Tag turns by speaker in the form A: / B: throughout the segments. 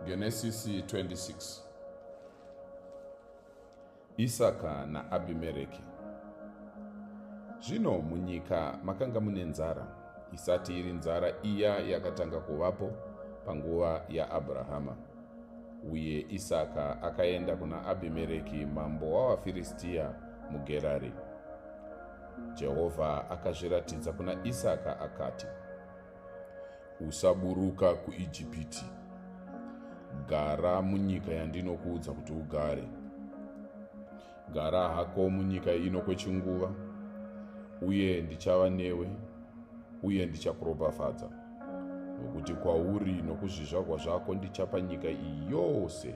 A: Genesisi 26 Isaka naAbhimereki Zvino munyika makanga mune nzara, isati iri nzara iya yakatanga kuvapo panguva yaAbrahama. Uye Isaka akaenda kuna Abhimereki mambo wavaFiristiya muGerari. Jehovha akazviratidza kuna Isaka akati, Usaburuka kuIjipiti. Gara munyika yandinokuudza kuti ugare. Gara hako munyika ino kwechinguva, uye ndichava newe, uye ndichakuropafadza, nokuti kwauri nokuzvizvarwa zvako ndichapa nyika iyi yose.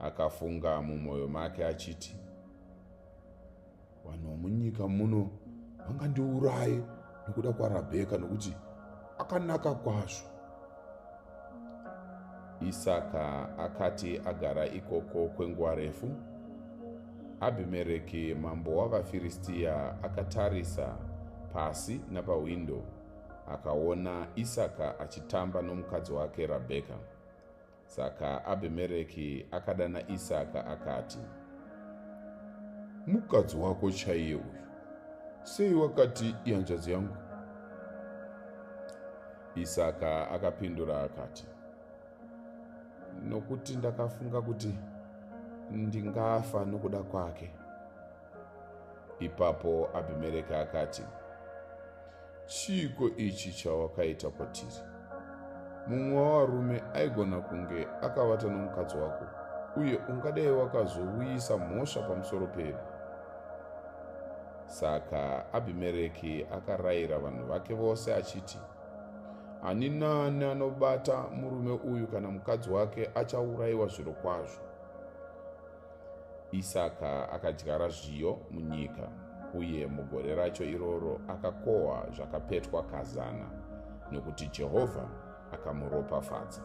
A: akafunga mumwoyo make achiti vanhu vomunyika muno vangandiuraye nokuda kwarabheka nokuti akanaka kwazvo isaka akati agara ikoko kwenguva refu abhimereki mambo wavafiristiya akatarisa pasi napahwindo akaona isaka achitamba nomukadzi wake rabheka Saka Abhimereki akadana Isaka akati, Mukadzi wako chaiye uyu, sei wakati ihanzvadzi yangu? Isaka akapindura akati, Nokuti ndakafunga kuti ndingafa nokuda kwake. ipapo abhimereki akati chiiko ichi chawakaita kwatiri mumwe wavarume aigona kunge akavata nomukadzi wako uye ungadai wakazouyisa mhosva pamusoro pedu saka abhimereki akarayira vanhu vake vose achiti ani nani anobata murume uyu kana mukadzi wake achaurayiwa zviro kwazvo Isaka akadyara zviyo munyika, uye mugore racho iroro akakohwa zvakapetwa kazana, nokuti Jehovha akamuropafadza.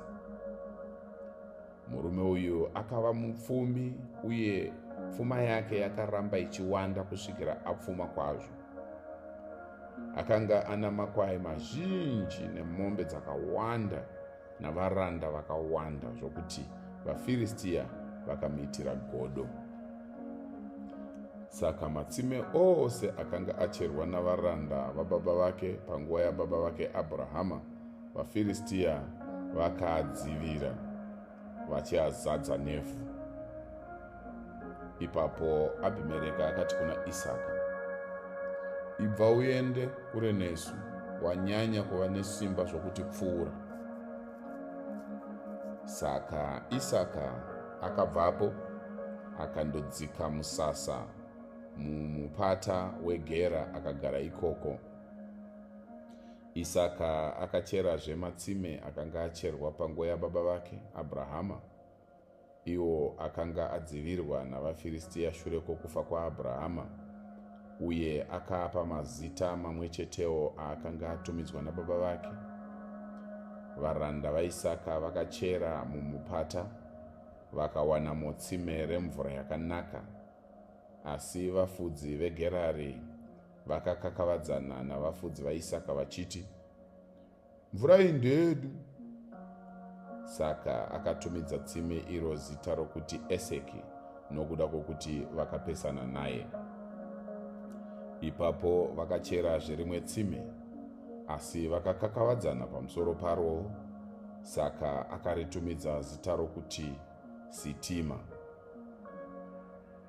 A: Murume uyu akava mupfumi, uye pfuma yake yakaramba ichiwanda kusvikira apfuma kwazvo. Akanga ana makwai mazhinji nemombe dzakawanda navaranda vakawanda zvokuti vaFiristiya vakamuitira godo. Saka matsime ose akanga acherwa navaranda vababa vake panguva yababa vake Abrahama, vaFiristiya vakaadzivira vachiazadza nevhu. ipapo abhimereka akati kuna isaka ibva uende kure nesu wanyanya kuva nesimba zvokuti pfuura saka isaka akabvapo akandodzika musasa mumupata wegera akagara ikoko isaka akacherazve matsime akanga acherwa panguva yababa vake abrahama iwo akanga adzivirwa navaFiristia shure kwokufa kwaAbrahama, uye akaapa mazita mamwe chetewo aakanga atumidzwa nababa vake. Varanda vaIsaka vakachera mumupata vakawana motsime remvura yakanaka, asi vafudzi veGerari vakakakavadzana navafudzi vaIsaka vachiti, mvura iyi ndeyedu saka akatumidza tsime iro zita rokuti eseki nokuda kwokuti vakapesana naye ipapo vakacherazve rimwe tsime asi vakakakavadzana pamusoro parwo saka akaritumidza zita rokuti sitima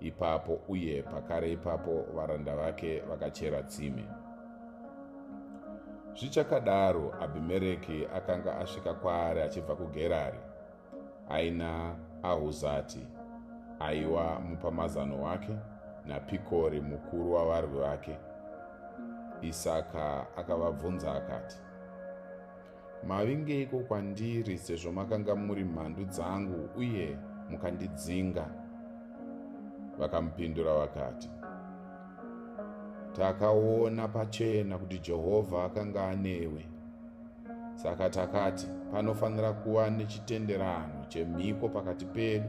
A: ipapo uye pakare ipapo varanda vake vakachera tsime zvichakadaro abhimereki akanga asvika kwaari achibva kugerari aina ahuzati aiwa mupamazano wake napikori mukuru wavarwi vake isaka akavabvunza akati Mavingeiko kwandiri sezvo makanga muri mhandu dzangu uye mukandidzinga? Vakamupindura vakati, Takaona pachena kuti Jehovha akanga anewe. Saka takati, panofanira kuva nechitenderano chemhiko pakati pedu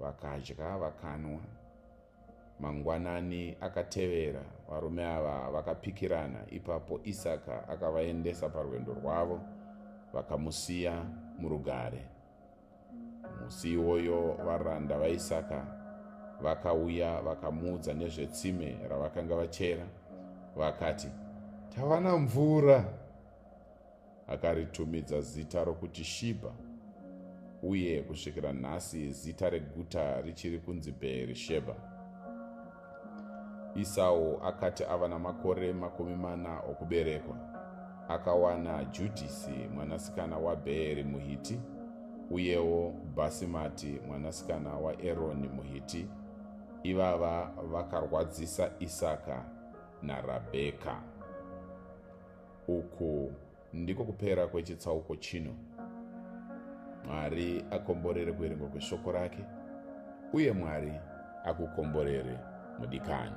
A: Vakadya vakanwa. Mangwanani akatevera, varume ava vakapikirana, ipapo Isaka akavaendesa parwendo rwavo, vakamusiya murugare. Musi iwoyo varanda vaIsaka vakauya vakamuudza nezvetsime ravakanga vachera, vakati, Tawana mvura! Akaritumidza zita rokuti Shibha, uye kusvikira nhasi zita reguta richiri kunzi Bheerishebha. Isau akati ava namakore makumi mana okuberekwa, akawana Judhisi mwanasikana waBheeri muHiti, uyewo Bhasimati mwanasikana waEroni muHiti. Ivava vakarwadzisa Isaka naRabheka. Uku ndiko kupera kwechitsauko chino. Mwari akomborere kuverengwa kweshoko rake, uye Mwari akukomborere mudikani.